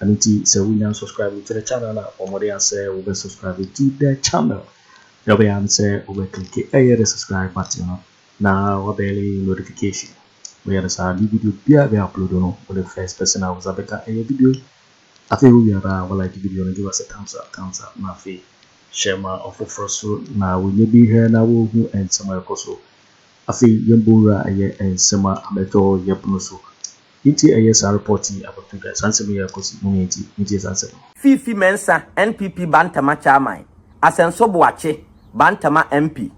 Ɛno nti sɛ wonya nsubscribe to the channel na wɔde asɛ wobɛ subscribe to the channel deɛ ɔbɛyɛ ara ne sɛ wobɛ click ɛyɛ the subscribe button no na wabɛle notification woyɛ no saa ne video biara bɛ upload no wo the first person a wosa bɛka ɛyɛ video yi afei wowie ara a walike video no give us a thumbs up thumbs up na afei hyɛ ma ɔfoforɔ so na wɔnyɛ bi hwɛ na wɔhu nsɛm a ɛkɔ so afei yɛmbɔ wura ɛyɛ nsɛm a abɛtɔ yɛpono so Nti ɛyɛ saa report yi abɛto dwa? Saa nsɛm yi a ɛrekɔ so mu no nti? Montie saa nsɛm yi. Fifi Mensah, NPP Bantama Chairman, Asɛnso Boakye, Bantama MP,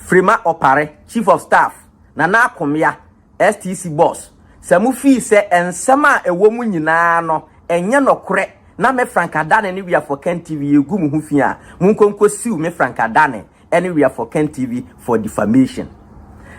Frema Opare, Chief of Staff, Nana Akomea, STC Boss, sɛ mofii sɛ nsɛm a ɛwɔ mu nyinaa no ɛnyɛ nɔkorɛ na me Frank Adane ne We Are For Kentv yɛregu mo ho fi a, monkɔ nkɔsiw me Frank Adane ɛne we are for ken tv for defamation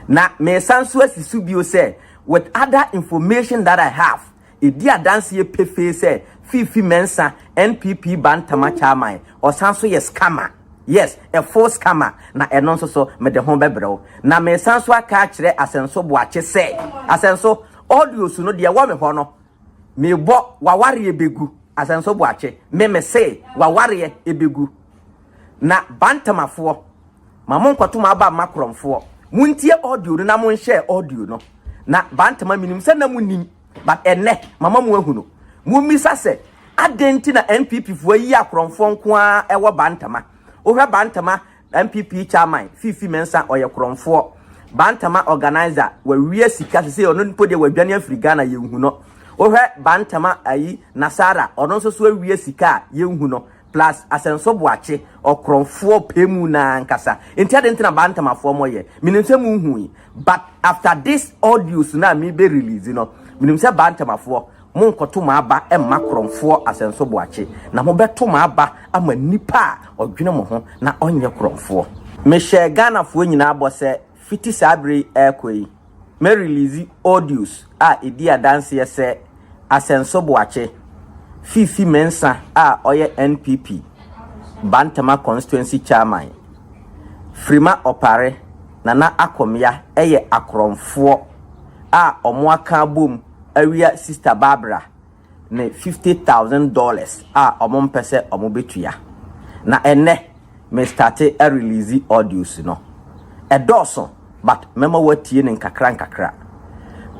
na mesan nso asi so bio sɛ with other information that i have ɛdi adanseɛ pefee sɛ fifi mɛnsa npp bantama chairman ɔsan nso yɛ scammer yes a full scammer na ɛno nso so mede ho bɛbrɛ wo na mesan nso aka akyerɛ asɛnso boakye sɛ asɛnso audios no deɛ wɔ me hɔ no mebɔ wawareɛ bɛgu asɛnso boakye me me se wawareɛ ɛbɛgu Na Bantamafoɔ, ma monkɔto mo aba mma Korɔmfoɔ. Montie audio no na monhyɛɛ audio no. Na Bantama menim sɛ na monim, but ɛnnɛ mama mo ahunu. Mommisa sɛ, adɛn nti na NPP foɔ ayi a Korɔmfoɔ nko ara ɛwɔ Bantama? Wohwɛ Bantama NPP Chairman Fifi Mensah ɔyɛ Korɔmfoɔ. Bantama organiser wawia sika sesei ɔno mpo deɛ wadwane afiri Ghana yɛnhu no. Wohwɛ Bantama ayi Nasara ɔno nso so awia sika a yɛnhu no. Plus Asɛnso Boakye ɔkorɔnfoɔ pɛ mu no ara ankasa. Nti adɛn nti na Bantamafoɔ mɔyɛ? Menim sɛ monhui. But after this audios no a mebɛ release no, menim sɛ Bantamafoɔ monkɔto mo aba mma korɔnfoɔ Asɛnso Boakye. Na mobɛto mo aba ama nipa a ɔdwene mo ho na ɔnyɛ korɔnfoɔ. Mehyɛ Ghanafoɔ nyinaa bɔ sɛ Fiti saa bere yi rekɔ yi, mɛreliisi audios a edi adanseɛ sɛ Asɛnso Boakye, Fifi Mensah a ɔyɛ NPP Bantama Constituency Chairman, Frima Opare, Nana Akomya yɛ akorɔmfoɔ a wɔaka abom awia Sista Barbara, ne fifty thousand dollars a ɔmo mpɛ sɛ ɔmo betua. Na ɛnnɛ me starte a release audios no. Ɛdɔɔso but mɛma woatie no nkakra nkakra.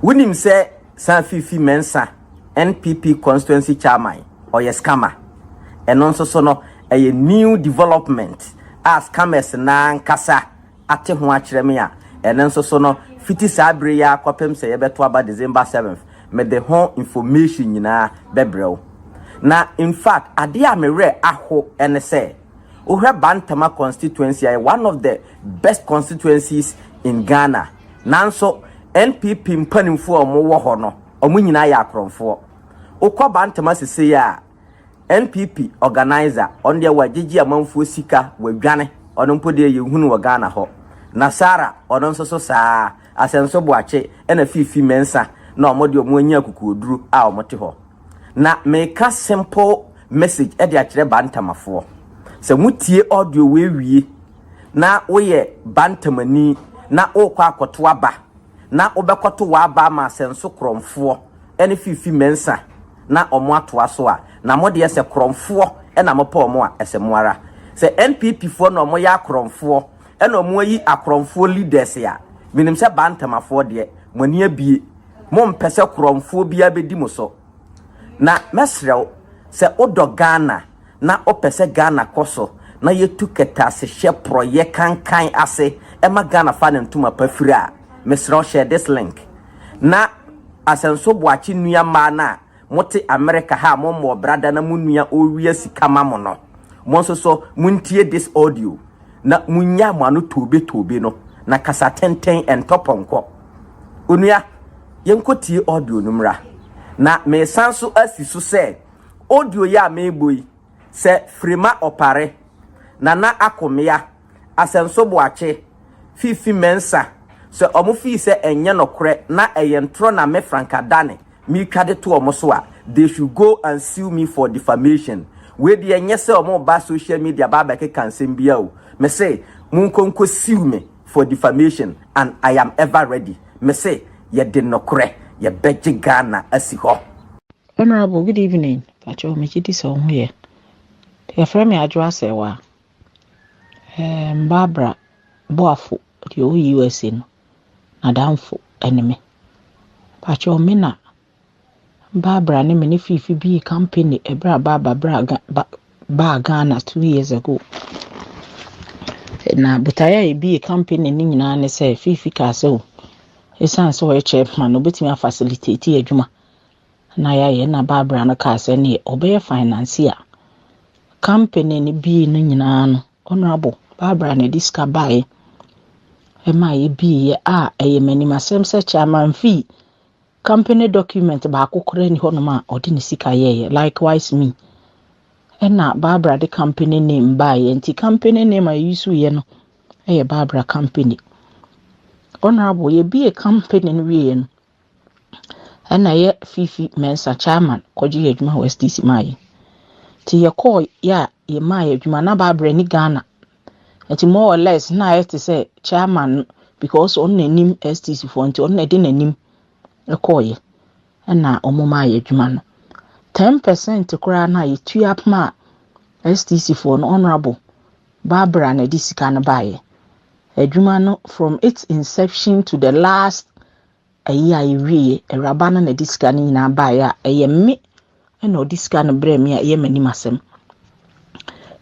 Wonim sɛ Sir Fifi Mensah NPP constituency chairman ɔyɛ scammer. Ɛno nso so no ɛyɛ new development a scammers no ankasa ate ho akyerɛ me a, ɛno nso so no, fiti saa bere yi ara kɔpem sɛ yɛbɛto aba December seventh, mede ho information nyinaa bɛbrɛ wo. Na in fact, adeɛ a me werɛ aho ne sɛ, wohwɛ Bantama constituency a, ɛyɛ one of the best constituencies in Ghana, nanso NPP mpanimfoɔ a wɔwɔ hɔ no, wɔn nyinaa yɛ akorɔmfoɔ. Wokɔ Bantama sesei a, NPP organiser ɔno deɛ wagyegye amanfoɔ sika wadwane ɔno mpo deɛ yɛnhu no wɔ Ghana hɔ. Nasara ɔno nso so saa ara. Asɛnso Boakye ɛna Fifi Mensah na wɔn deɛ wɔn anya akukuoduro a wɔn te hɔ. Na meka simple message ɛde akyerɛ Bantamafoɔ. Sɛ motie audio wei wie na woyɛ Bantamani na wokɔ akɔto aba na wobɛkɔto w'aba ama Asɛnso Korɔmfoɔ ɛne Fifi Mensah. na ɔmo atoa so a na mo deɛ sɛ korɔnfoɔ na mopɛ ɔmo a ɛsɛ mo ara. Sɛ NPP foɔ na ɔmo yɛ akorɔnfoɔ na ɔmo ayi akorɔnfoɔ leaders a menim sɛ Bantamafoɔ deɛ mo ani abue mo mpɛ sɛ korɔnfoɔ biara bɛdi mo so. Na mɛsrɛ wo sɛ wodɔ Ghana na wopɛ sɛ Ghana kɔ so na yɛtu kɛtɛasehyɛ porɔyɛ kankan ase ma Ghana fa ne ntoma pa firi a mesrɛ wo hyɛ this link. na Asɛnso Boakye nua mmaa no a mote Amerika ha a mommɔɔ bra da na mo nua ɔrewia sika ma mo no, mo nso so montie this audio na monnya mo ano toobetoobe no na kasa tenten, ɛntɔ pɔnkɔ. Onua, yɛnkɔtie audio no mmra. Na meresan so asi so sɛ, audio yi a merebɔ yi, sɛ Frema Opare, Nana Akomea, Asɛnso Boakye, Fifi Mensah, sɛ wɔn fii sɛ ɛnyɛ nokorɛ na ɛyɛ ntorɔ na me Franka Dane metwa de to wɔn so a, they should go and sue me for defamation. Wei deɛ ɛnyɛ sɛ wɔn reba social media aba abɛkeka nsɛm biara o. Me se monkɔ nkɔ sue me for defamation and I am ever ready. Me se yɛde nokorɛ yɛbɛgye Ghana asi hɔ. Honourable, good evening. Mpakyɛw, megye di sɛ wo ho yɛ. Yɛfrɛ me Adwoa Serwaa. Ɛɛm, Barbara Boafo, deɛ ɔwɔ USA no, n'adamfo ne me. Pakyɛw me na Barbara ne me ne Fifi bii kampani ɛberɛ a Barbara bra Ga ba baa Ghana two years ago. Na botaeɛ a yɛbii kampani no nyinaa ne sɛ Fifi kaa sɛ o, ɛsiane sɛ ɔyɛ chairman no, ɔbɛtumi afacilitate adwuma na yɛayɛ na Barbara no kaa sɛ neɛ ɔbɛyɛ financier company no bii no nyinaa no honorable Barbara na ɛde sika baeɛ ɛma yɛbiiɛ a ɛyɛ m'anim asɛm sɛ chairman fee company document baako koraa ni hɔnom a ɔde ne sika yɛɛyɛ likewise me ɛna Barbara de company name baeɛ nti company name a yɛyi so yɛ no ɛyɛ Barbara company honorable yɛbie company no wieɛ no ɛna yɛ fifi mɛnsa chairman kɔgye yɛ adwuma wɔ SDC maa yɛ nti yɛkɔɔ yɛ a yɛ maa yɛ adwuma na baabrɛ ne Ghana nti more or less na ayɛ te sɛ chairman no because ɔno na anim SDC foɔ nti ɔno na ɛde n'anim ɛkɔɔ yɛ ɛna ɔmo maa yɛ adwuma no ten percent koraa na yɛtua apoma a SDC foɔ no honorable Barbara na ɛde sika no baayɛ adwuma no from its inception to the last Ayi a ɛwieɛ awuraba no na ɛde sika no nyinaa baeɛ a ɛyɛ me ɛna ɔde sika no brɛ me a ɛyɛ m'anim asɛm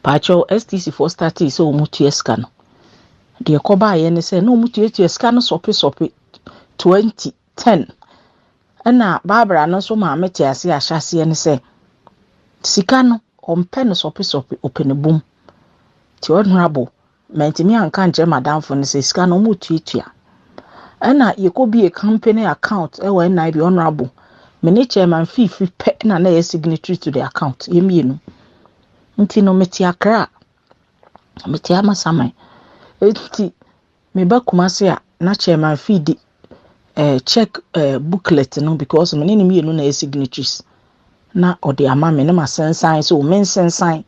paakyɛw stc foɔ startee sɛ wɔn tua sika no deɛ kɔbaeɛ ne sɛ na wɔn tuatua sika no sɔpe sɔpe twenty ten ɛna baabara no nso maame te ase ahyɛ aseɛ ne sɛ sika no ɔmpɛ no sɔpe sɔpe ɔpɛ ne bom te ɔnora bo mantumi anka nkyerɛ m'adamfo no sɛ sika no wɔretuatua. Ɛna yɛkɔbie company account wɔ NIB honorable me ne chairman fiifiri pɛ na na ɛyɛ signatory to the account yɛ mmienu nti no mete akra mete amasaman nti meba kumase a na chairman fee di eh, check eh, booklet no because me ne no mmienu na yɛ signatures na ɔde ama me ne ma sensan so me nsensan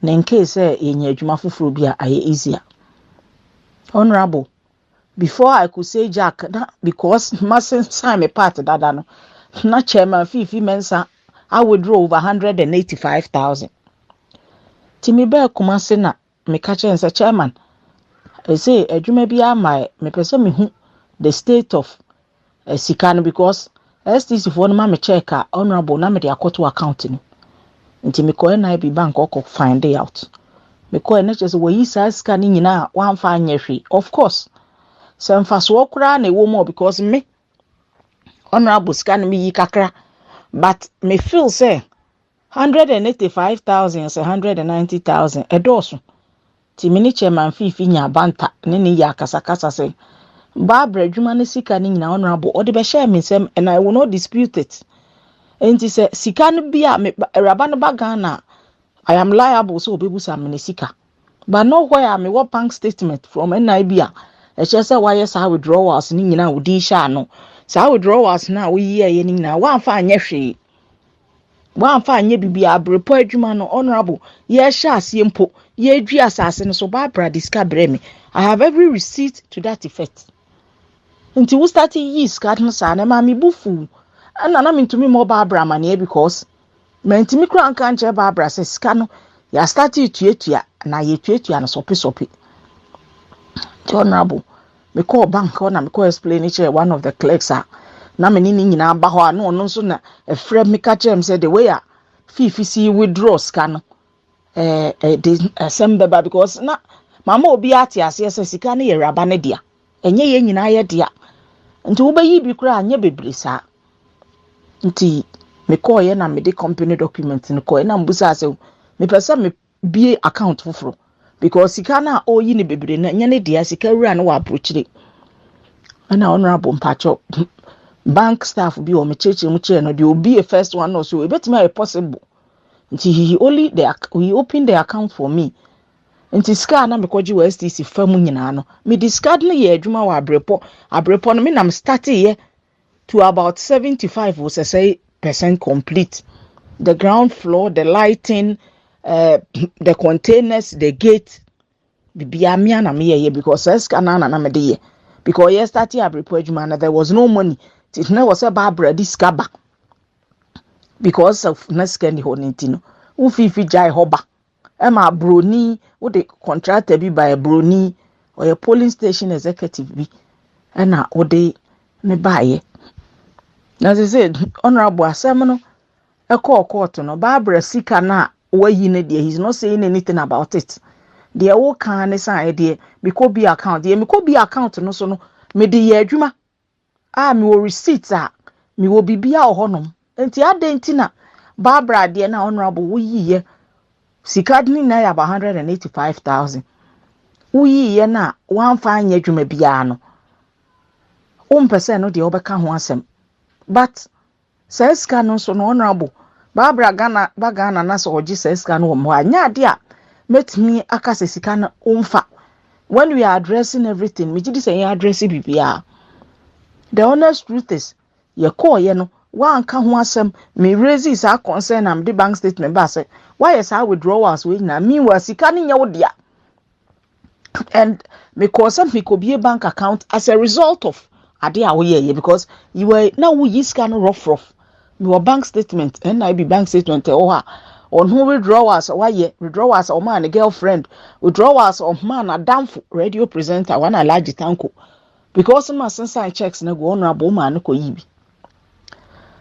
na nkee sɛ yɛnya adwuma foforɔ bi a ayɛ easier honorable before i could say jack na because ma sensan me part dada no na chairman fifi mensa I withdraw over 185,000 ti me bɛɛ kuma se na Meka kyerɛɛ no sɛ, Chairman, ɛsɛ adwuma bi ama ɛ, mepɛ sɛ mehu the state of eh, sika no because STC foɔ no ma me check a honourable na mede akɔto account no nti mekɔ NIB bank ɔkɔ find out mekɔɛ na kyerɛ sɛ wɔyi saa sika no nyinaa a wɔamfa anyɛ hwee of course sɛ mfasoɔ koraa na ɛwɔ mu ɔ because me honourable sika no meyi kakra but me feel sɛ Hundred and eighty five thousand sɛ hundred and ninety thousand ɛdɔɔso nti me ne chairman fiifi nya abanta ne ne yɛ akasakasa sɛ Barbara adwuma ne sika no nyinaa honorable ɔde bɛhyɛɛ me nsɛm and I will not dispute it nti sɛ sika no bi a me awuraba no ba Ghana I am liable sɛ ɔbɛbusa me ne sika but nowhere a mewɔ bank statement from NIB a ɛkyerɛ sɛ wayɛ saa withdrawals no nyinaa a wodin hyɛ ano saa withdrawals no a woyiyɛeɛ no nyinaa woamfa anyɛ hwee Wɔamfa anyɛ biribiara, berepɔ adwuma no, Honorable, yɛrehyɛ aseɛ mpo, yɛredwi asase no so, Barbara de sika brɛ me. I have every receipt to that effect. Nti wo start yi sika no saa na ɛma me bu fuw. Ɛna na mentumi mmɔ Barbara amaneɛ because mantumi kura nka nkyerɛ Barbara sɛ sika no yɛ start tuatua na yɛtuatua no sɔpe sɔpe. Nti Honorable, Mekɔɔ bank hɔ na mekɔ explain kyerɛɛ one of the clerks a na me ne ne nyinaa ba hɔ a na ɔno nso na ɛfrɛ me ka kyerɛɛ me sɛ the way a fifi si withdraw sika no ɛɛ ɛde asɛm bɛba because na mama obi ate aseɛ sɛ sika no yɛ awuraba no dea ɛnyɛ yɛn nyinaa yɛ dea nti wobɛyi bi koraa nyɛ bebree saa nti mekɔɔeɛ na mede company document no kɔɛ na mbusa sɛ mepɛ sɛ me bue account foforɔ because sika no a ɔreyi no bebree no ɛnyɛ ne dea sika wura no wɔ aburokyire ɛna honorable mpakyɛw bank staff bi wɔn kyerɛkyerɛ mu kyerɛ no deɛ obi yɛ first one no so ebetumi ayɛ possible nti he only the he open the account for me nti sika a na mekɔgye wɔ stc fa mu nyinaa no me discard no yɛ adwuma wɔ abrepɔ abrepɔ no me nam start yɛ to about seventy five o sɛsɛe percent complete the ground floor the lighting uh, the containers the gate bibia mea na meyɛ yɛ because saa sika no na na mede yɛ because yɛ start abirepɔ adwuma na there was no money ti na wɔ sɛ baabra di sika ba because of na sika ni hɔ ne ti no wofifi gyae hɔ ba Ɛma broni, wode contractor bi baɛ, broni, ɔyɛ polling station executive bi, ɛna wode ne baeɛ. Na sɛ sɛ, honorable asɛm no, ɛkɔɔ court no, Barbara sika no a wayi no deɛ, he's not saying anything about it. Deɛ wokaa ne sɛ ɛdeɛ, mekɔ bi account, deɛ mekɔ bi account no so no, mede yɛ adwuma, Ah, mewɔ receipt a, mewɔ biribiara wɔ hɔnom. Nti adɛn nti na Barbara adeɛ na honorable woyiiɛ sika de ne nyinaa yɛ about hundred and eighty five thousand. Woyiiɛ no a woamfa anyɛ adwuma biara no, wompɛ sɛ ɛno deɛ wobɛka ho asɛm. But Saa sika no nso no Honourable Barbara Ghana ba Ghana na sɛ ɔgye saa sika no wɔ me hɔ a nyɛ ade a mɛtumi aka sɛ sika no womfa when we are addressing everything megye di sɛ yɛn address biribiara the honest truth is yɛkɔɔyɛ no woanka ho asɛm me raise saa concern na mede bank statement ba sɛ woayɛ saa withdrawals wei nyinaa meanwhile sika no nyɛ wo dea and me kɔɔ sɛ me kɔ bie bank account as a result of ade a woyɛ yɛ because you were na wo yi sika no rough rough me wɔ bank statement ɛna ebi bank statement ɛwɔ hɔ a wɔn ho withdrawals a wayɛ withdrawals a wɔn a ne girlfriend withdrawals a wɔn a n'adanfo radio presenter wɔn a alaji tanko because ma sensan checks na gu ɔno abɔ ɔmo a ne kɔ yi bi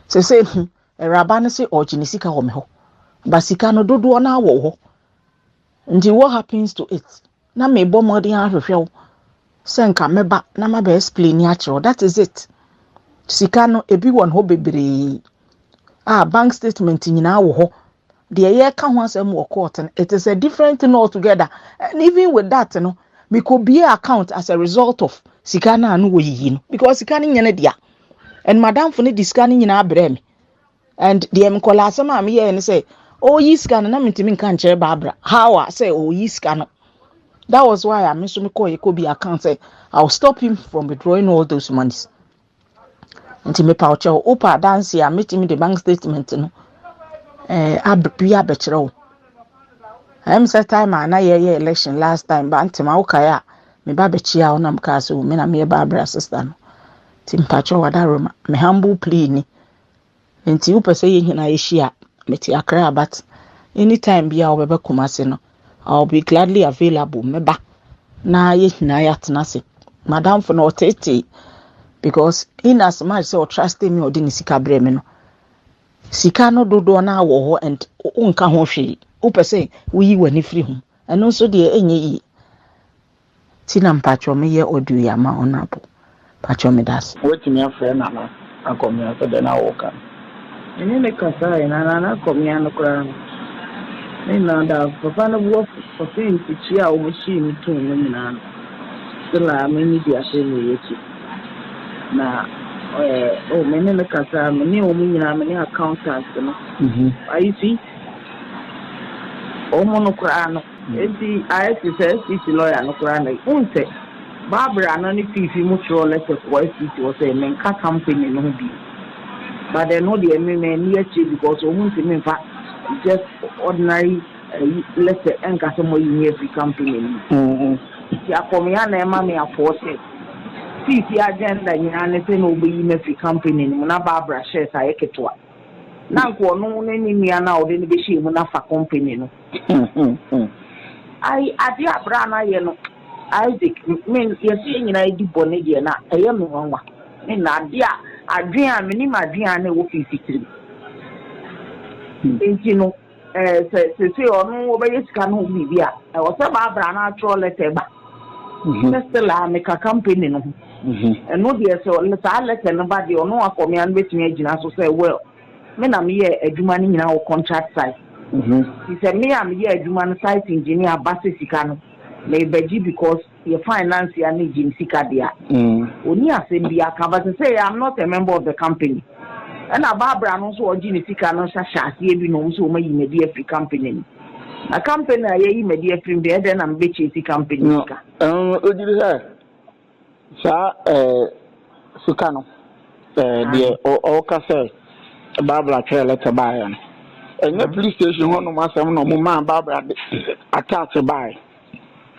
sese hmm, ɛwuraba no se ɔgye ne sika wɔ me hɔ ba sika no dodoɔ no awɔ hɔ Nti what happens to it? Na mebɔ mmɔden ahwehwɛ wo sɛ nka mɛba na mabɛ explain akyerɛ wo. That is it. Sika no, ebi wɔ hɔ bebree. Ah, bank statement nyinaa wɔ hɔ. Deɛ yɛka ho asɛm wɔ court no, it is a different thing altogether. And even with that no, mekɔbie account as a result of sika no a no wɔyiyi no because sika no nyɛ no dea. And madamfo no de sika no nyinaa brɛɛ me. And deɛ nkɔlaa asɛm a meyɛɛ ne sɛ ɔreyi sika no na mentumi nka nkyerɛ Barbara how a sɛ ɔreyi sika no that was why a me nso mekɔɔ yɛkɔ bi account sɛ I will stop him from withdrawing all those monies nti mepa ɔkyɛ wo wopa adanse a metumi de bank statement no eh, ab bi abɛkyerɛ wo ɛm sɛ time a na yɛyɛ election last time ba ntema wokae a meba bɛkyia wo na mekaa sɛ o me na meyɛ Barbara sister no nti mpakyɛ wada roma me humble plea ni Nti wopɛ sɛ yɛn nyinaa yɛhyia a, mete Accra but anytime bi a wobɛbɛ Kumasi no, I'll be gladly available. Mɛba na yɛn nyinaa yɛatena ase. Madamfo no ɔteetee because in as much sɛ ɔtrusted me a ɔde ne sika brɛ me no, sika no dodoɔ no wɔ hɔ and wonka ho hwee. Wopɛ sɛ woyi w'ani firi ho. Ɛno nso deɛ ɛnyɛ yie. Ti na mpakyɛw me yɛ audio yi ama honourable mpakyɛw me da ase. Woatumi afrɛ Nana akɔmea sɛ dɛn na woreka no? Me ne no kasaeɛ na Nana akɔmea no koraa no ne nyinaa da hɔ. Papa no bo afu ɔse ntekyie a wɔn hyii no too no nyinaa no still a m'ani di aseɛ na ɛyɛ akyi na ɔyɛ oh me ne no kasaeɛ me ne wɔn nyinaa me ne accountant no I see wɔn no koraa no Enti ayɛ te sɛ SCC lɔya no koraa na wohu sɛ Barbara no ne Fifi mo twerɛɛ lɛtɛ kɔɔ SCC hɔ sɛ menka company no ho bio but ɛno deɛ me manni akyire because ɔmo ntumi mfa just ordinary ayi lɛtɛ nka sɛ moayi me afiri company no mu. Nti akɔmea na ɛma me afoɔ sɛ Fifi agenda nyinaa ne sɛ na ɔbɛyi me afiri company no mu na Barbara shares ayɛ ketewa. Na anka ɔno ne ne nua no a ɔde no bɛhyɛɛ mu no afa company no. Ai, adeɛ a bra no ayɛ no, Isaac, me, yɛse yɛn nyinaa yɛdi bɔne deɛ no a, ɛyɛ me nwanwa. Me na, adeɛ a, adwene a, menim adwene a na ɛwɔ Fifi tirim. Enti no, Eh, sɛ sese ɔno wɔbɛyɛ sika no ho biribi a, ɛwɔ sɛ Barbara no atwerɛ lɛtɛ ba mhm. sɛ Stella meka kampani no ho. Mhm. Ɛno deɛ sɛ saa lɛtɛ no ba deɛ ɔno akɔmea no bɛtumi agyina so sɛ well me na meyɛ adwuma no nyinaa wɔ contract site. Mhm. Nti sɛ me a meyɛ adwuma no site engineer ba sɛ sika no mebɛgye because Yɛ finance a ne Jim sika de a, ɔnni asɛm biara ka, but sɛ yɛ I'm not a member of the company, ɛna Barbara no nso a ɔgye ne sika no nso hyɛ aseɛ bi na ɔhu sɛ wɔayi no adi afiri company no mu. Na company a yɛayi me adi afiri mu deɛ, ɛdɛn na mebɛ chase company no sika? Ɛno no, wogye di sɛ saa eh, sika no, eh, deɛ ɔka sɛ Barbara twerɛ letter baeɛ no, ɛnyɛ police station hɔnom asɛm na wɔmaa Barbara de attach baeɛ.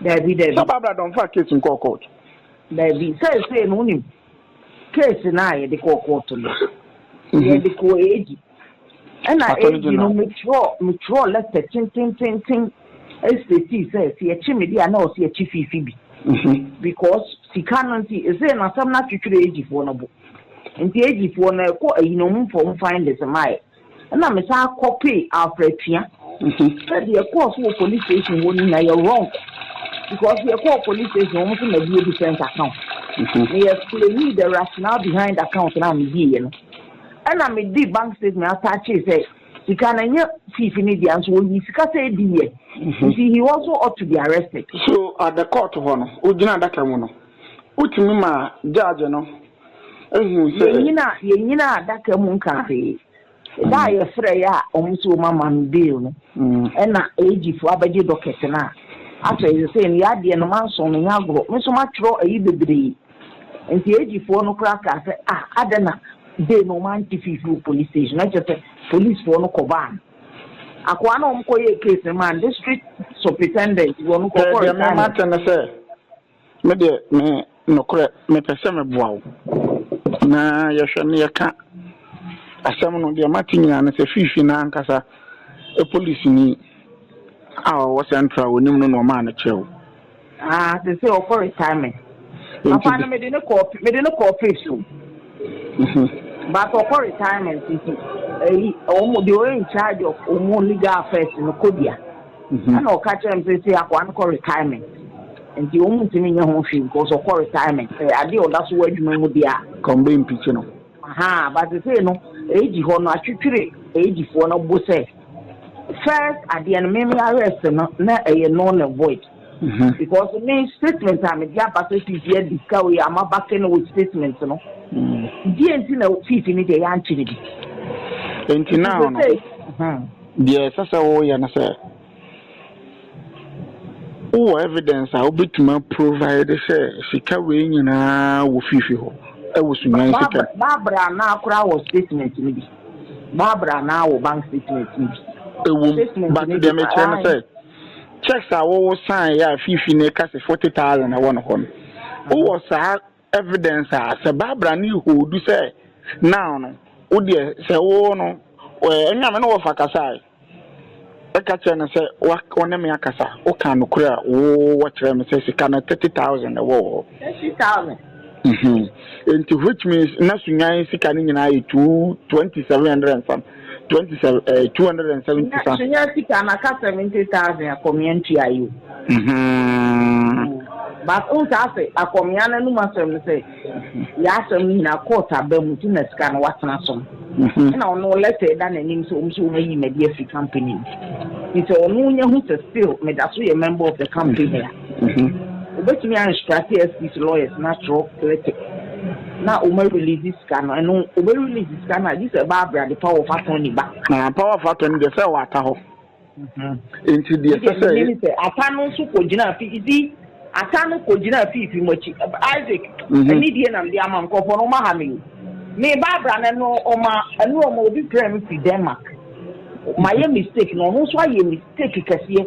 Dabi dabi. Sɛ Barbara dɔn fa case nkɔɔ court. Dabi sɛsɛ no wonim case no a yɛde kɔɔ court no mhm. yɛde kɔɔ edi ɛna edi no metwerɛ metwerɛ letter tentententen ɛsitɛti sɛ si ɛkyi me di a na ɔsi ɛkyi fifi bi mhm. because sika no nti ɛsɛ na asɛm no atwitwerɛ ejifoɔ no bo nti ejifoɔ no ɛkɔ ayi na ɔmo fɔm findings maa yɛ. Ɛna me san kɔ pay Alfred Tua. Sɛ deɛ ɛkɔɔ so wɔ police station hɔ no nyinaa yɛ wrong because yɛ kɔɔ police station wɔn nso na bi yɛ different account. Na yɛ explain the rationale behind account na me di yɛ no. Ɛna me di bank statement ataakye sɛ sika na nyɛ fifi ne deɛ nso wɔyi sika sɛ edi yɛ. Nti he also ought to be arrested. So at the court hɔ no, wogyina adaka mu no, wotumi ma judge no Ehu sɛ. Yɛnyina yɛnyina adaka mu nka hwee. Da a yɛfrɛeɛ a wɔn sɛ wɔn ama me bail no, ɛna AG foɔ abɛgye docket no a, afei sesei no y'adeɛ no manso me nya agorɔ, me nso matwerɛ ayi bebree. Nti AG foɔ no koraa kaa sɛ ah adɛn na bail no wɔn ante fii firi police station, na kyerɛ sɛ police foɔ no kɔ baa no. Akoa no a wɔn kɔ yɛɛ case no maa no, district supritendent wɔn kɔ kɔ resign. Sɛ deɛ me mate ne sɛ. Me deɛ me nokorɛ mepɛ sɛ meboa wo na yɛhwɛ na yɛka asɛm no. Deɛ mate nyinaa ne sɛ Fiifi no ankasa polisini a ɔwɔ Central a ɔnim no na ɔmaa no kyɛw. Ah, seesei ɔkɔ retirement. Papa no mede no kɔɔ mede no kɔɔ Phipps o. But ɔkɔ retirement nti, ɛyi wɔn deɛ ɔyɛ in charge of wɔn legal affairs no kɔdua. Ɛnna ɔka kyerɛɛ me sɛ, Sei akoa no kɔ retirement, enti wɔntumi nyɛ ho hwee because ɔkɔ retirement. Sɛ adeɛ a ɔda so wɔ adwuma mu deɛ a. Ka wɔn bɛmpikyi no. Ahaa, but seesei no, age hɔ no, atwitwiri agefoɔ no bo sɛ, first adeɛ no, me me arrest no, na ɛyɛ null and void. Because me statement a mede aba sɛ fifi adi sika wei a, maba kɛ no wɔ statement no. Deɛ nti na fifi no deɛ yɛankyere bi. Enti now no. Deɛ ɛsɛ sɛ woyɛ ne sɛ, wowɔ evidence a wobɛtumi aprovide sɛ sika wei nyinaa wɔ fifi hɔ wɔ Sunyani sika mu. Ba bra na kora wɔ statement no bi. Ba bra na wɔ bank statement no bi. Ɛwom, but deɛ mekyerɛ ne sɛ, checks a wo sign yɛ a fifi no ka sɛ forty thousand ɛwɔ ne hɔ no, wowɔ saa evidence a sɛ Barbara ne hold sɛ now no wo deɛ sɛ wo no ɛnyɛ me ne wɔfa kasa a ɛka kyerɛ no sɛ wɔne me akasa woka nokorɛ a wo wɔkyerɛ me sɛ sika no thirty thousand ɛwɔ wɔ hɔ thirty thousand nti which means na sunyan sika no nyinaa yɛ two twenty seven hundred and some twenty seven ɛɛ eh, two hundred and seventy fa. na nya sika na ka seventy thousand akɔmia ntua yi o. Mhm. but n saa sɛ akɔmia no anum asɛm no sɛ yɛ asɛm no nyinaa court aba mu ti na sika no watena so mhm. ɛna ɔno lɛtɛ da n'anim sɛ ɔmo sɛ ɔmo ayi mɛdi afi company mu nti ɔno nya ho sɛ still meda so yɛ member of the company a. Wobɛtumi a instructe SPC lawyers no atwerɛ letter na wɔn a release sika no, ɛno wɔbɛ release sika no a gye sɛ ɛba abira de power of attorney ba. Ah, power of attorney deɛ sɛ ɛwɔ ata hɔ. Mm-hmm. Nti deɛ sɛ sɛ. Ɛdi sɛ ata no nso kɔ gyina fi isi ata no kɔ gyina fi fi mo akyi Isaac. Mm-hmm. Ɛni die nam de ama nkɔfɔ no ma ha mi. Me ba abira no ɛno ɔma ɛno ɔma obi pere mi fi Denmark. Ma yɛ mistake na ɔno nso ayɛ mistake kɛseɛ.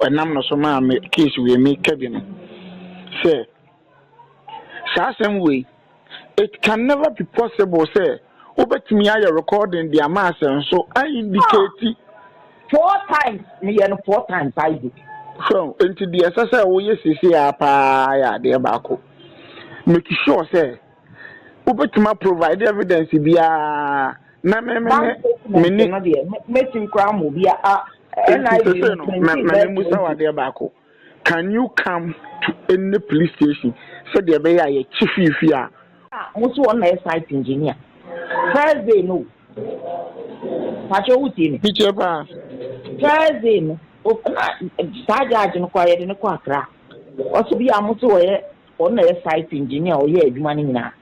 Ɛnam no so maa me case wei me ka bi no sɛ saa asɛm wei it can never be possible sɛ wobɛtumi ayɛ recording de ama asɛ nso a indicate four times me yɛ no four times I do. So nti deɛ ɛsɛ sɛ woyɛ sisi a paa yɛ adeɛ baako make sure sɛ wobɛtumi provide evidence biara na me me me me ne. Mɛtumi koraa mo bi a Nti sese no, ma me musa wo adeɛ baako. Can you come to any police station sɛdeɛ ɛbɛyɛ a yɛkye fiifi a? Ah, mo so wɔn na yɛ site engineer. First day no, pàtó wò tie mi. Mi tie paa. First day no, na saa judge no kɔ a yɛde no kɔ Accra. Ɔsɛ bi a mo so wɔyɛ. Ɔno na ɛyɛ site engineer a ɔyɛɛ adwuma no nyinaa.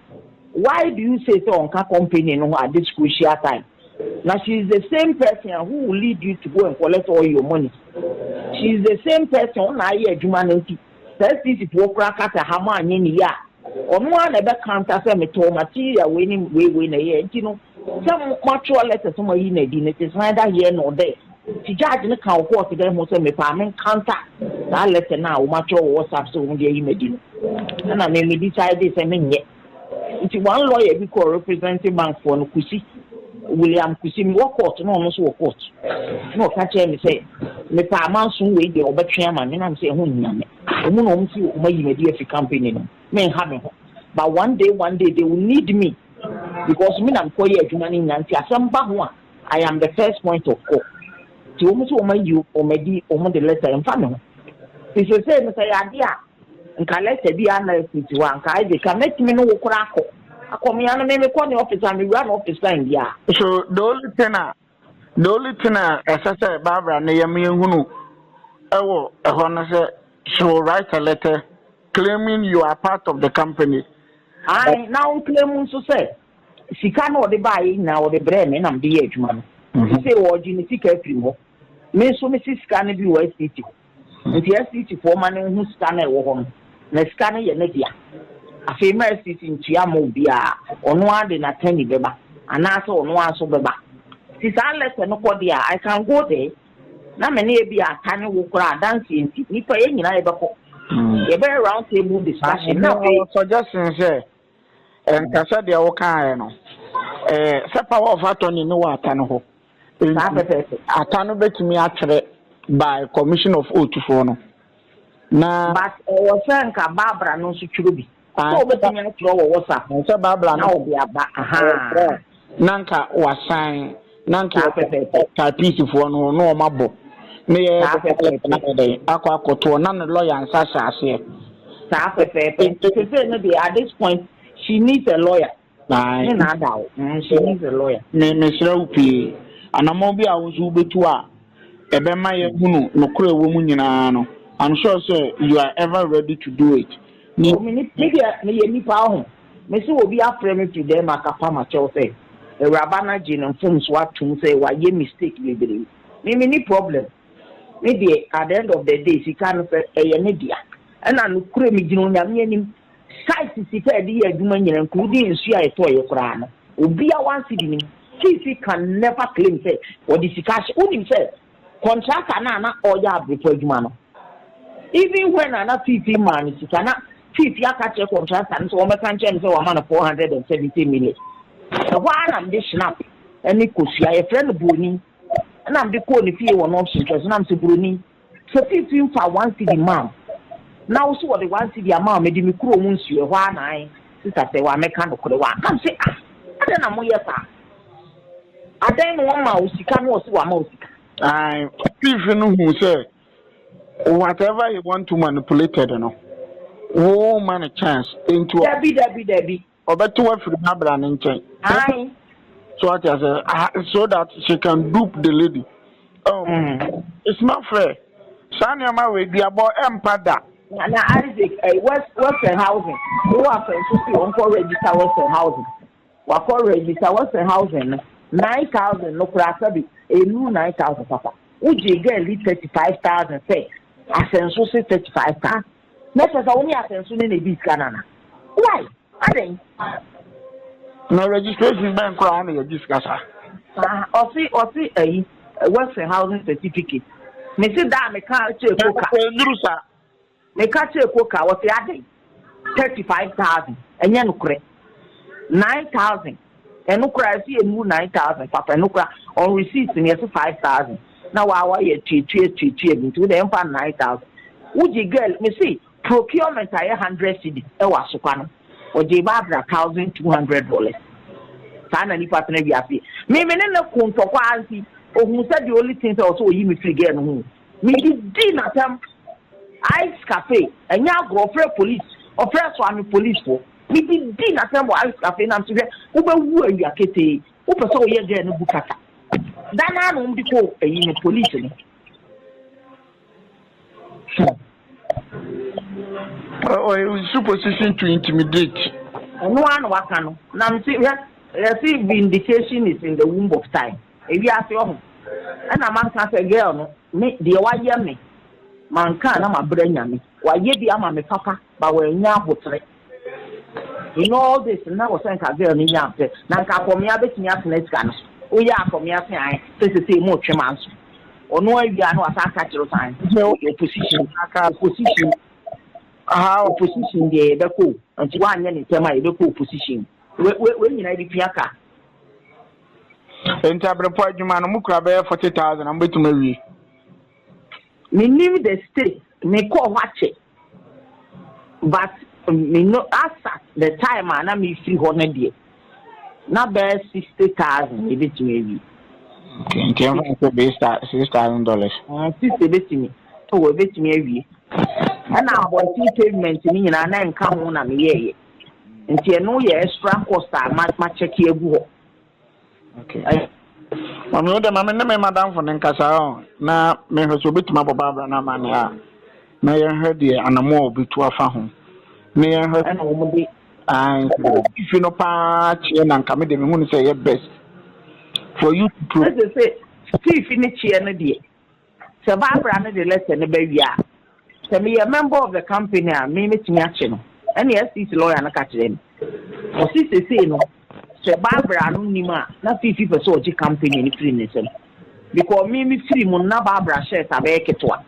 Why do you say sɛ ɔnka company no ho at this crucial time? Na she is the same person a who will lead you to go and collect all your monies. She is the same person ɔno na ayɛ adwuma no nti sɛ STC foɔ koraa ka sɛ ha moanyɛ no yie a, ɔno ara na ɛbɛ counter sɛ metɔɔ material wei ne wei wei na ɛyɛɛ nti no sɛ moatwerɛ letter sɛ moayi no adi no it is neither here nor there. Nti judge no ka wo court dɛn ho sɛ mepɛ a mencounter saa letter no a wɔatwerɛ wɔ WhatsApp sɛ wɔde ayi me adi no? Ɛna me me decidee sɛ menyɛ. Nti one lawyer bi kɔɔ represente bank foɔ no, Kusi, William Kusi, mewɔ court na ɔno nso wɔ court, na ɔka kyerɛɛ me sɛ mepɛ a manso wei deɛ wɔbɛtwe ama me, na me sɛ ɛho nhia me. Wɔn na wɔn se wɔayi me adi afi company no mu, menha me ho. But one day one day they will need me because me na mekɔyɛ adwuma no nyinaa nti asɛm ba ho a, I am the first point of call. Nti wɔn nso wɔn ayi wɔn adi wɔn de lɛta ɛnfa me ho. Ti sese no sɛ yɛ ade a nka lɛta bi a na ɛsi ti hɔ a nka ɛde ka mɛtumi ne wo kora akɔ akɔ me ano me mekɔ ne office a mewura ne office time bi a. So the only thing a the only thing a ɛsɛ sɛ Barbara ne yɛn yɛn hunu ɛwɔ ɛhɔ no sɛ she will write a letter claiming you are part of the company. Ayi na wɔn claim nso sɛ Sika no a ɔde baeɛ nyinaa, ɔde brɛɛ me na mede yɛɛ adwuma no. Enti sei ɔregye ne sika afiri me hɔ. Me nso mese sika no bi wɔ SCT hɔ. Enti SCT foɔ ma no nhu sika no a ɛwɔ hɔ no, na sika no yɛ ne dea. Afei mma SCT ntua mma obiara, ɔno ara de n'attorney bɛba anaasɛ ɔno ara nso bɛba. Nti saa letter no kɔ deɛ a, I can go there na me ne ebia Ata ne wo koraa adanseɛ nti, nnipa yɛn nyinaa yɛbɛkɔ. Yɛbɛyɛ round table discussion na afei. Suggestion sɛ Ɛnka sɛ deɛ wokaeɛ no, ɛɛ, sɛ power of attorney no wɔ ata no hɔ. Saa pɛpɛɛpɛ. Ata no bɛtumi atwerɛ by commission of oath foɔ no. Na. But ɛwɔ sɛ nka Barbara no nso twerɛ bi. Sɛ wobɛtumi atwerɛ wɔ WhatsApp. Sɛ Barbara no. Na wɔde aba. Ahaa. na nka wasan na nka yɛkɔ tapiisifoɔ no hɔ na wɔn abɔ na yɛ akɔ akɔtoɔ na ne lɔya nsa hyɛ aseɛ. saa pɛpɛɛpɛ sese no deɛ at this point she needs a lawyer. ne na ada o mm, she needs a lawyer. me mesrɛ wo pii anamɔ bi a wo nso wobɛtu a ɛbɛma yɛhunu nokorɛ wɔ mu nyinaa no i'm sure sɛ you are ever ready to do it. me deɛ meyɛ nipa ho. Mese obi afrɛ me firi dɛm a kapa makyɛw sɛ awuraba no agye ne mfomsoɔ atom sɛ wayɛ mistake bebree me menni problem me deɛ at the end of the day sika no sɛ ɛyɛ ne dea ɛna nokorɛ megyina onyame anim site sika a yɛde yɛ adwuma nyina including nsuo a yɛtɔeɛ koraa no obia one cedi nim fifi can never claim sɛ ɔde sika ahyɛ wonim sɛ Contractor no a na ɔreyɛ abrefo adwuma no, even when a na Fifi maa no sika, na Fifi aka kyerɛ contractor no sɛ wɔmmɛka nkyerɛ no sɛ wama no four hundred and seventy million. Ɛhɔ ara na mede Schnapp ne kosua, yɛfrɛ no buroni, na mede kɔɔ ne fie wɔ North Central so, na mese, Buroni, sɛ Fifi mfaa one cedi mmaa wo, na wo nso wɔde one cedi ama wo, mede me kurom nsuo, ɛhɔ ara na ae, Sista Serwaa, mɛka nokorɛ, wɔ a? Na mese, Ah, adɛn na moyɛ saa? Adɛn na wɔma wo sika na wɔsi wama wo sika? Ae, ɔtifi no hu sɛ whatever he want to manipulated no, wo ma no chance. Enti wɔ. Dabi dabi dabi. Ɔbɛte wafiri n'abra ne nkyɛn. Ae. So ate asɛ so that she can dupe the lady. Oh, mm. it's not fair. Saa nneɛma wei duabɔ ɛmpa da. Na na Isaac, eh, West Western Housing, wo afɛn so si wɔn kɔ register Western Housing. Wakɔ Revisa Western Housing no nine thousand no koraa sɛbe ɛnnuru nine thousand papa. Wogyee girl yi thirty five thousand sɛ asɛnso se thirty five thousand. Na kyerɛ sɛ wo ne asɛnso no na ɛdii sika no anaa? Why? Adɛn? Na registration bɛn koraa na yɛgye sika saa? Ah, ɔse ɔse ayi Western Housing Certificate. Mese da a mekaa kyerɛ koka. Ɛnnuru saa. Meka kyerɛ Coker, ɔse adɛn? Thirty five thousand, ɛnyɛ nokorɛ. Nine thousand, ɛno koraa ɛse ɛnnuru nine thousand papa, ɛno koraa on receipt no yɛse five thousand, na waa wayɛ atuatua atuatua bi nti wode ɛmfa nine thousand. Wogye girl, mese procurement ayɛ hundred cedi ɛwɔ Asokwa no, ɔgyee Barbara thousand two hundred dollars. Saa na nipa tena wiase. Me me ne no ko ntɔkwa ara nti, ohuu sɛ the only thing sɛ ɔsɛ oyi me firi girl no ho o. Mede dii no atɛm. Ice Cafe, ɛnyɛ agorɔ, ɔfrɛɛ polis, ɔfrɛɛ Suame polis foɔ. Mede dii no atɛm wɔ Ice Cafe na mese hwɛ, wobɛwu awia ketee, wopɛ sɛ woyɛ girl no bu kasa. Da no ara na wɔde kɔɔ ayi no, polis no. Ɔyɛ wo su position to intimidate. Ɛno ara na waka no. Na mese hwɛ, yɛse vindication is in the womb of time. Ewiase ɔho ɛna manka sɛ girl no me deɛ wayɛ me manka a na mabrɛ nyame wayɛ bi ama me papa but wannya ahotrɛ in all this na wɔ sɛ nka girl no nya pɛ na nka akɔmea bɛtumi atena sika no so woyɛ akɔmea se ae sɛ sesei mo retwe manso ɔno awie a na wasan aka kyerɛ sɛ ae sɛ woyɛ opposition aka opposition aha opposition deɛ yɛbɛkɔ o nti woanyɛ ne ntɛm a yɛbɛkɔ opposition wei nyinaa bɛtumi aka Enti abirepɔ adwuma no mo kura bɛyɛ forty thousand a mo bɛtumi awie. Me nim the state me kɔɔ hɔ akyɛ but me no asa the time a na me firi hɔ no deɛ na bɛyɛ sixty thousand yɛ bɛtumi awie. Okay nti ɛnfa nso base ta six thousand dollars. Ɛn sisi ebɛtumi ɛwɔ ebɛtumi awie ɛna abɔnten pavement no nyinaa na nka ho na me yɛɛyɛ. nti ɛno yɛ extra cost a ma ma kyɛke agu hɔ. Okay. Ɛyɛ. Mami wo dɛ ma me ne me madamfo no nkasa ɔ na mehwɛ sɛ obetumi abɔ Barbara no ama ne a na yɛhwɛ deɛ anamo a obetu afa ho ne yɛhwɛ. Ɛna wɔn de. Ayi. Fifi no paa kyeɛ na nka me de me hu no sɛ ɛyɛ best for you to pro. Ɛsɛ sɛ fifi ne kyeɛ no deɛ. Sɛ Barbara no de lɛtɛ no ba wie a, sɛ meyɛ member of the company a, me mɛtumi akye no, ɛnna SCC lɔya no ka kyerɛɛ me. Ɔse sesei no, sɛ Barbara no nnim a, na Fiifi pɛ sɛ ɔgye company no firi ne nsam. Because me mefiri mu no, na Barbara shares abɛyɛ ketewa.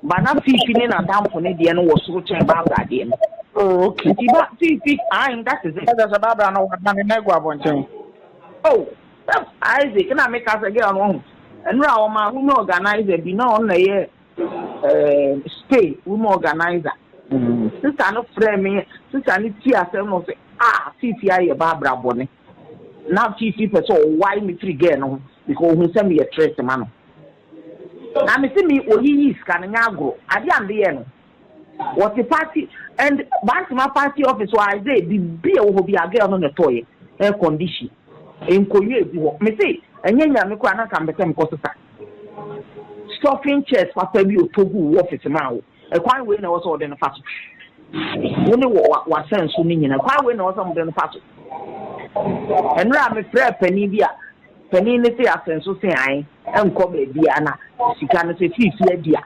But na Fiifi ne n'adamfo no deɛ no wɔ soro kyɛn Barbara deɛ no. Oh, okay. Nti ba Fiifi, ae, that is it. Ɛsɛ sɛ Barbara no wɔadane na agu abɔnten. Oh. Yep Isaac na me ka sɛ girl no wahu ɛnora a wɔmaa women organizer bi na ɔno na ɛyɛ eh, stay women organizer sista no frɛ me sista no ti asɛm no sɛ ah fifi ayɛ ba abra bɔne na fifi pɛ sɛ ɔwae me firi girl no ho because ohun sɛ meyɛ trɛs ma no na me se me oyiyi sika no nyɛ agorɔ adeɛ a mede yɛ no Wɔte party and Bantama party office hɔ a dɛ biribi a ɛwɔ hɔ biara girl no na ɛtɔeɛ, air condition, nkonnwa a ɛgu hɔ. Me se ɛnyɛ Nyame koraa na anka mepɛ sɛ mekɔ sesa stuffing chairs papa bi a ɔtɔ guu wo office maa wo. Ɛkwan wei na ɛwɔ sɛ wɔde no fa so. Wo ne w'asɛnso no nyinaa kwan wei na ɛwɔ sɛ wɔde no fa so. Ɛnora a mefrɛɛ panin bi a panin no se asɛnso se ae nkɔ baabiara na sika no sɛ fii fie adi a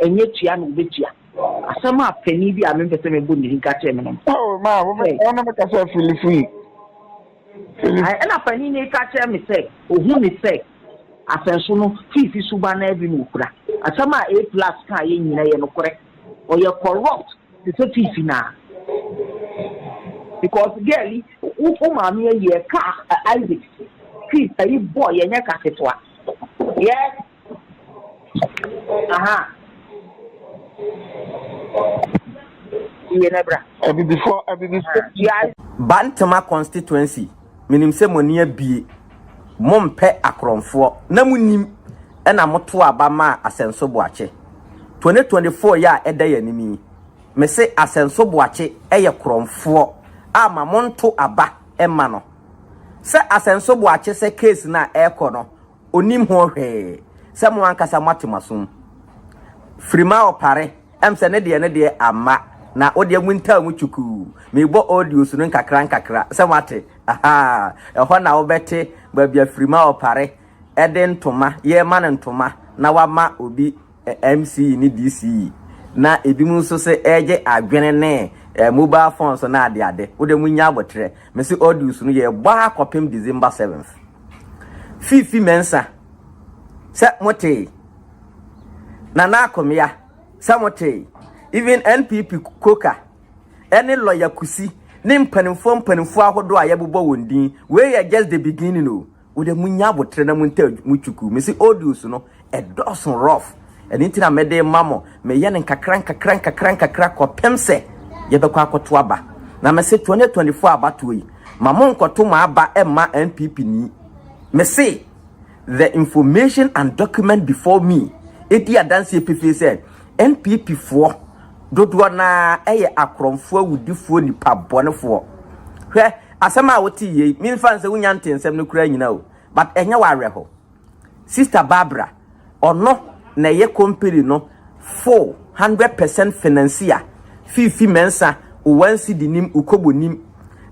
Ɛnyɛ tua na wobetua. Asɛm a panyin bi a mempɛ sɛ mebɔ ne din ka kyerɛɛ me no. Oh, ma wo me, wo na meka sɛ Filifo mu. Filifo. Ɛna panyin no ka kyerɛ me sɛ ohu me sɛ asɛnso no fiifi suban naa bi na okura. Asɛm a A plus kaa yɛ nyinaa ɛyɛ nokorɛ. Ɔyɛ corrupt te sɛ fiifi naa. Because girl yi, wo wo maame ayi ɛkaa Isaac fi ayi bɔɔ yɛ ɛnyɛ ka ketewa. Yes. Bantama constituency menim sɛ mo ani abie mo mpɛ akorɔmfoɔ na mo nim ɛna mo to aba maa asɛnso boakye 2024 yɛ a ɛda yɛ anim yi me se asɛnso boakye ɛyɛ korɔmfoɔ a ma mo nto aba ɛma no sɛ asɛnso boakye sɛ case no a ɛkɔ no onim ho hwee sɛ mo ankasa moate mo asom firi ma ɔpare ɛm sɛ ne deɛ ne deɛ amma na wo deɛ mo ntaa mu kyukuu mebɔ audios no nkakra nkakra sɛ moate ahaa ɛhɔ na wobɛte baabi a firi ma ɔpare ɛde ntoma yɛ ma no ntoma na wama obi MCE ne DCE, na ebinom nso se ɛregye adwene ne eh, mobile phone so na adeade. Wode mo nya abotrɛ. Me se audios no yɛbɔ ara kɔpem December 7th. Fifi Mensah, sɛ motee. Nana Akomea, sɛ motee. Even NPP Koka, ɛne lɔya Kusi, ne mpanimfoɔ mpanimfoɔ ahodoɔ a yɛbobɔ wɔn din. Wei yɛ just the beginning o. Wo de munya abotere na montaa mo twuku. Me se audios no ɛdɔɔso rough ɛno nti na mede ma mo. Meyɛ no nkakra nkakra nkakra nkakra kɔpem sɛ yɛbɛkɔ akɔto aba. Na me se 2024 abatoɔ yi ma monkɔto mo aba mma NPP ni. Me se the information and document before me ɛdi adanseɛ pefee sɛ NPP foɔ dodoɔ no ara yɛ akorɔmfoɔ awudifoɔ nipa bɔnefoɔ. Hwɛ! Asɛm a wotee yei, memfa nsɛ wonya ntee nsɛm no koraa nyina o, but ɛnyɛ wo awerɛho. Sister Barbara, ɔno na ɛyɛ company no full hundred percent financier, Fifi Mensah, wo one cedi nim, wo kobo nim,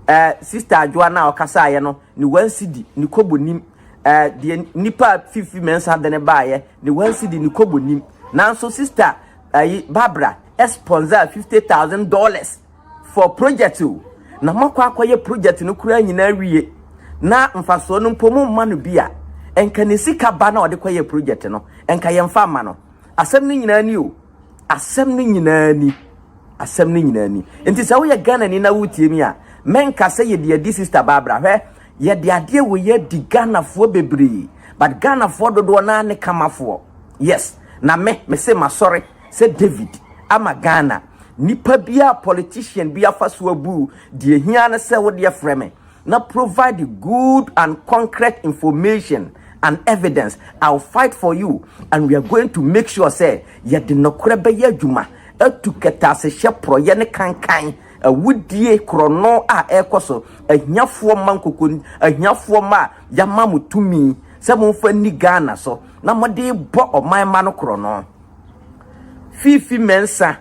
eh, Sister Adwoa no a ɔkasaeɛ no, ne one cedi, ne kobo nim, eh, deɛ nipa a Fifi Mensah de no baeɛ, ne one cedi, ne kobo nim. Nanso Sister ayi, Barbara, sponsor fifty thousand dollars. for project o na moakɔ akɔyɛ project no koraa nyinaa wie na mfasoɔ no mpo momma no bi a nka ne sika ba na ɔde kɔyɛ project no nka yɛmfa mma no asɛm no nyinaa ni o asɛm no nyinaa ni asɛm no nyinaa ni nti sɛ woyɛ Ghana ni na wotie mi a mɛnka sɛ yɛde adi sister Barbara hwɛ yɛde adeɛ wɔ yɛ di Ghanafoɔ bebree but Ghanafoɔ dodoɔ naa ne kamafoɔ yes na me mese masɔre sɛ David ama Ghana Nipa bi a politician bi afa so abu wo, deɛ ɛhia ne sɛ wo deɛ frɛ me na provide good and concrete information and evidence, I will fight for you and we are going to make sure sɛ yɛde nɔkorɛ bɛyɛ adwuma atu kɛtɛasehyɛ porɔeɛ ne kankan, awudie, korɔno a ɛrekɔ so, ahiafoɔ mma nkoko, ahiafoɔ mma a yɛama mo tumi sɛ momfa nni Ghana so na mode rebɔ ɔman mma no korɔno. Fifi Mensah,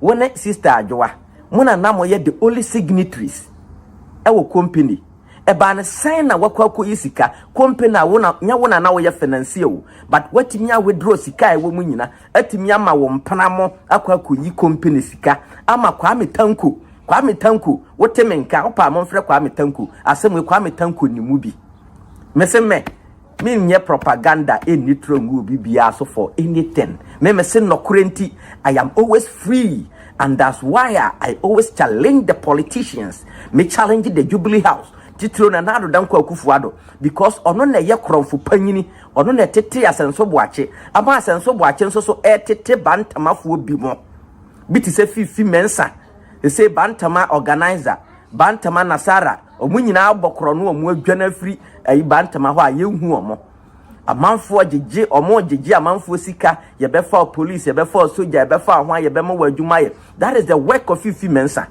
wo ne Sister Adwoa, mo na na moyɛ the only signatories wɔ company. Ɛbaa no sɛn na woakɔ akɔyi sika? Company a wo na, nyɛ wo na na woyɛ financier o, but woatumi a withdraw sika a ɛwɔ mu nyina, atumi ama wo mpena mo akɔ akɔyi company sika ama Kwame Tanko. Kwame Tanko, wote me nka? Wopɛ a momfrɛ Kwame Tanko. Asɛm wei, Kwame Tanko nim wo bi. Mese mɛ, Me nyɛ propaganda nni trɔ ngu obi biaa so for anything me me se nɔkorɛ nti I am always free and that's why a I always challenge the politicians me challenge the jubilee house titiro Nana Addo Dankwa Akuffo Addo because ɔno na ɛyɛ korɔnfo panyini ɔno na ɛtetee Asɛnso Boakye ama Asɛnso Boakye nso so ɛretete Bantamafoɔ bi mo bi te sɛ Fifi Mensah sesei Bantama organiser Bantama Nasara Wɔn nyinaa abɔ korɔno a wɔadwane afiri ayi Bantama hɔ a yɛnhu wɔn. Amanfoɔ gyegye, wɔgyegye amanfoɔ sika, yɛbɛfa wo police, yɛbɛfa wo soja, yɛbɛfa wo hwan, yɛbɛma wo adwuma ayɛ. That is the work of Fifi Mensah.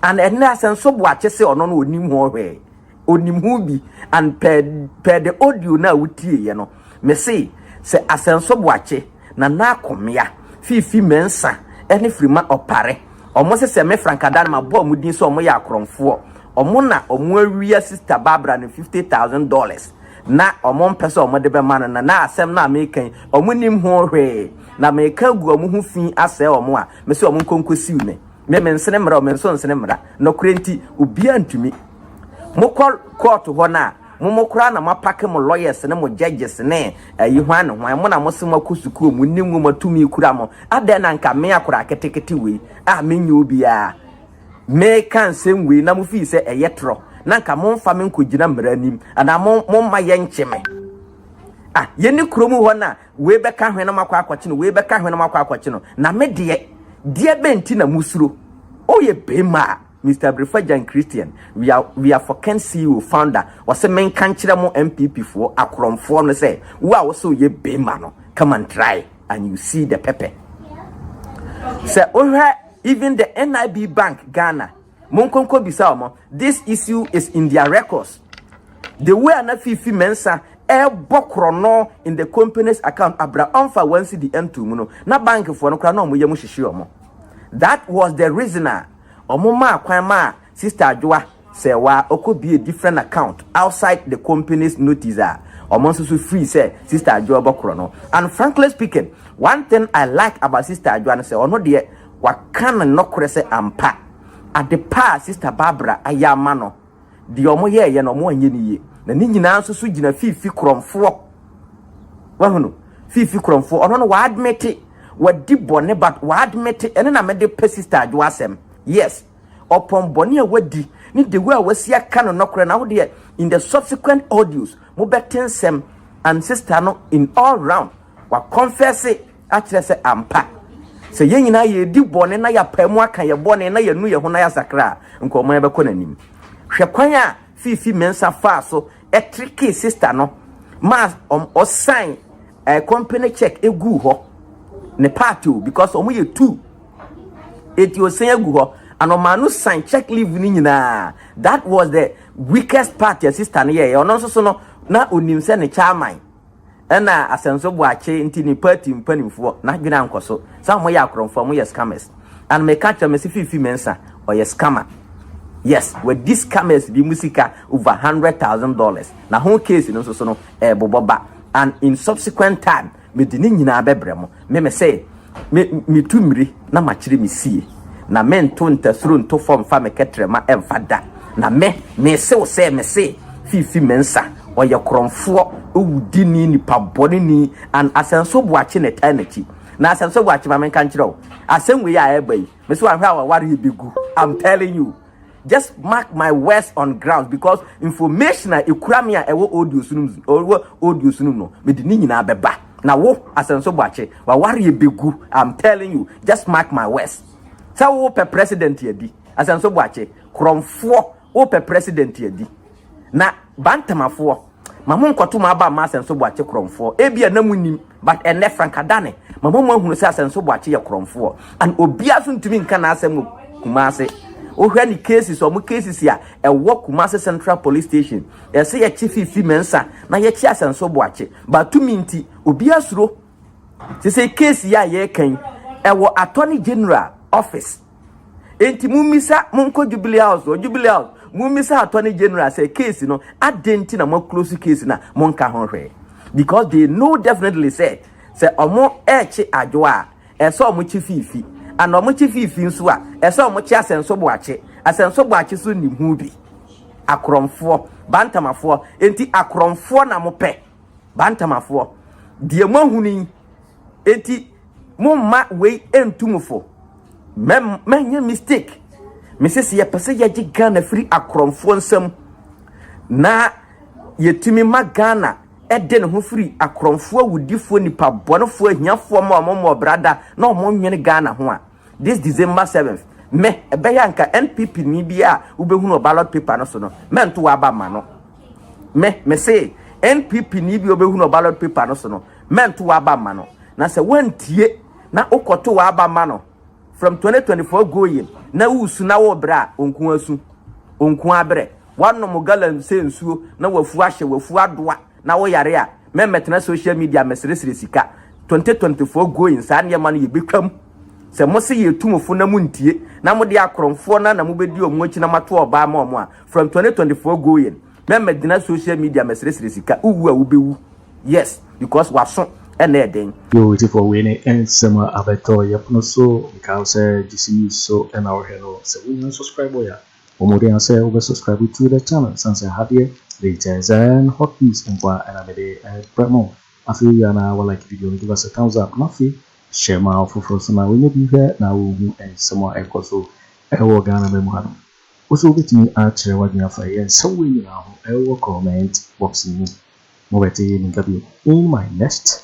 And ɛnɛ Asɛnso Boakye se ɔno no ɔnim ho hwee, ɔnim ho bi and per, per the audio no a wotieeɛ no, Mese, sɛ Asɛnso Boakye, Nana Akomea, Fiifi Mensah ne Frima Opare, wɔn sesɛ me Frankada no mabɔ wɔn din sɛ wɔn yɛ akorɔmfoɔ, wɔn na wɔn awia Sista Barbara no fifty thousand dollars na wɔn mpɛ sɛ wɔn de bɛma no no, na asɛm no a meka yi wɔn nnim ho hwee, na meka agu wɔn ho fi asɛe wɔn a, mese wɔn nkɔ nkɔ siw me. Me mensene mmara o, me nso nsene mmara, nɔkorɛ nti obiara ntumi. Mokɔ kɔɔto hɔ no a, mo mo koraa na moapake mo lawyers ne mo judges ne ayi hwan ne hwan mo na mo se moakɔ sukuu mo nni nwoma tumi kura mo adɛn na nka me akora ketekete wei a menyɛ obiara meka nsɛm wei na mo fii sɛ ɛyɛ torɔ na nka momfa me nkɔgyina mmara anim anaa momma yɛnkye me ah yɛne kurom hɔ no a wei bɛka hwene no makɔ akɔkye no wei bɛka hwene no makɔ akɔkye no na me deɛ deɛ bɛnti na mosuro woyɛ bɛma a Mister Abrifah Jan Christian, we are we are for Ken CEO, founder, ɔse menka nkyerɛ mo NPP foɔ, akorɔmfoɔ no sɛ, wo a wose woyɛ bema no, come and try and you see the pepper. Sɛ wohwɛ even the NIB bank Ghana, monkonko bisa wɔn, this issue is in their records. The way ana Fifi Mensa ɛbɔ korɔno in the company's account, abra ɔmfa wɔn si di ɛntu mu no, na bankfoɔ no koraa na wɔn yɛ mu hyehye wɔn. That was the reason a Ɔmo maa kwan maa Sister Adwoa Serwaa ɔkɔbiee different account outside the company's notice a ɔmo nso so free sɛ Sister Adwoa ɔbɛkorɔ no. And frankly speaking, one thing I like about Sister Adwoa ne sɛ ɔno deɛ waka no nɔkorɛ sɛ ampa adepa a Sister Barbara ayɛ ama no, deɛ wɔyɛeɛ no wɔanyɛ no yie na ne nyinaa nso so gyina fiifi korɔmfoɔ wahunu fiifi korɔmfoɔ ɔno no wɔadmete wadi bɔne but wɔadmete ɛne na mede pɛ sister adwo asɛm yes ɔpɔn bɔne a wadi ne the way a wasi aka no nɔkorɛ na wodeɛ in the subsequent audios mobɛte nsɛm and sister no in all round Wakɔnfɛse akyerɛ sɛ ampa, sɛ yɛn nyinaa yɛredi bɔne na yɛapae mu aka yɛn bɔne na yɛanu yɛn ho na yɛasakra a, nka ɔman bɛkɔ n'anim. Hwɛ kwan a Fifi Mensah faa so trikii sista no ma ɔsan eh, company check eguu hɔ ne part o because wɔn yɛ two eti osan egu hɔ and ɔmaa no san check leave ne nyinaa that was the weakest part a sista no yɛɛ ɔno nso so no na onim sɛ ne chairman ɛna asɛmso boakye nti ne party mpanimfoɔ n'adwene ankɔ so sɛ wɔn yɛ akorɔmfoɔ wɔn yɛ scammers and meka kyerɛ me se fifi mensa ɔyɛ scammer yes wadi scammers bi mu sika over hundred thousand dollars na ho case no nso so no ɛɛbobɔ ba and in subsequent time mede ne nyinaa bɛbrɛ mo Me me se me me tu miri na makyere me sie na me nto ntasuro nto fɔ mfa me kɛtrɛma mfa da na me me se wo sɛ me se fifi me nsa ɔyɛ korɔnfoɔ owu di ni nipa bɔne ni an asɛnso boakye na ɛtaa nakyi na asɛnso boakye ma me nka nkyerɛ wo asɛm wei a ɛba yi me se wanhwɛ a wawareɛ bɛ gu I'm telling you Just mark my words on ground because information a ekura me a ɛwɔ audio so no mu ɛwɔ audio so no mu no mede ne nyinaa bɛba na wo asɛnso bɔakye wawari ebegu i'm telling you just mark my words sɛ wo pɛ president adi asɛnso bɔakye korɔmfoɔ wo pɛ president adi na bantamafoɔ Ma mo nkɔto mo aba mma Asɛnso Boakye korɔmfoɔ. Ebia na mo nnim, but ɛnnɛ Frank Adane ma mo mo ahunu sɛ Asɛnso Boakye yɛ korɔmfoɔ and obiara nso ntumi nka n'asɛm wɔ Kumasi. Wohwɛ ne cases, wɔn cases a ɛwɔ Kumasi Central Police Station, yɛsɛ yɛkye Fifi Mensah na yɛkye Asɛnso Boakye, but tumi nti obiara suro. Sesei case yi a yɛreka yi, ɛwɔ Attorney General office. Enti mummisa, monkɔ Jubilee House hɔ, Jubilee House, mummisa Attorney General sɛ case no, adɛn nti na moaclose case no a monka ho hwee? Because they know definitely sɛ, sɛ wɔrekye adwo a, ɛsɛ wɔkye fiifi, and wɔkye fiifi nso a, ɛsɛ wɔkye asɛnso boakye. Asɛnso boakye nso nnim ho bi. Akorɔmfoɔ, Bantamafoɔ, enti akorɔmfoɔ na mopɛ, Bantamafoɔ, deɛ moahunu yi. Enti momma wei ntu mo fo. Manyɛ mistake. Mese sɛ yɛpɛ sɛ yɛgye Ghana firi akorɔmfoɔ nsam na yɛtumi ma Ghana ɛde ne ho firi akorɔmfoɔ awudifoɔ nipa bɔnefoɔ ahiafoɔ ma wɔn mmɔbrada na wɔn nwene Ghana ho a, This December seventh, me, ɛbɛyɛ a nka NPP ni bi a wobɛhunu wɔ ballot paper no so no, mɛnto w'aba ma no. Me, me se, NPP ni bi a wobɛhunu wɔ ballot paper no so no, mɛnto w'aba ma no. Na sɛ wantie na wokɔto w'aba ma no from 2024 going na wosu na wobrɛ a, onko asu, onko abrɛ. Wanom gallon sɛ nsuo na wafu ahyɛ, wafu adoa. na wo yare a mɛmmɛtena social media mmɛsrɛsrɛ sika 2024 going saa nneɛma no yɛbɛtwam sɛ mo se yɛ tumufo na mo ntie na mo de akorɔmfoɔ na na mobɛdi ɔmo akyi na moato ɔbaa ma ɔmo a from 2024 going mɛmmɛgyina social media mmɛsrɛsrɛ sika wowu a wobɛwu yes because waso ɛna ɛden. Yoo tifoɔ wei ne nsɛm a abɛtɔ yɛpono so nkae wo sɛ gyesɛ news so na wohwɛ no sɛ wonya subscribe yɛ a. Bɔ mmɔden ara sɛ wobɛ subscribe to the channel ɛsiane sɛ ha deɛ latest and hot news nko ara na mede brɛ mo. Afei wie a na wa like video no, give us a thumbs up na afei share ma afoforɔ nso na wɔnyɛ bi hwɛ na wɔhu nsɛm a ɛkɔ so wɔ Ghana man mu hanom. Wo nso wobɛtumi akyerɛ w'adwene afa yɛn nsɛm wei nyinaa ho wɔ comment box no mu. Mobɛte me nka bio in my next.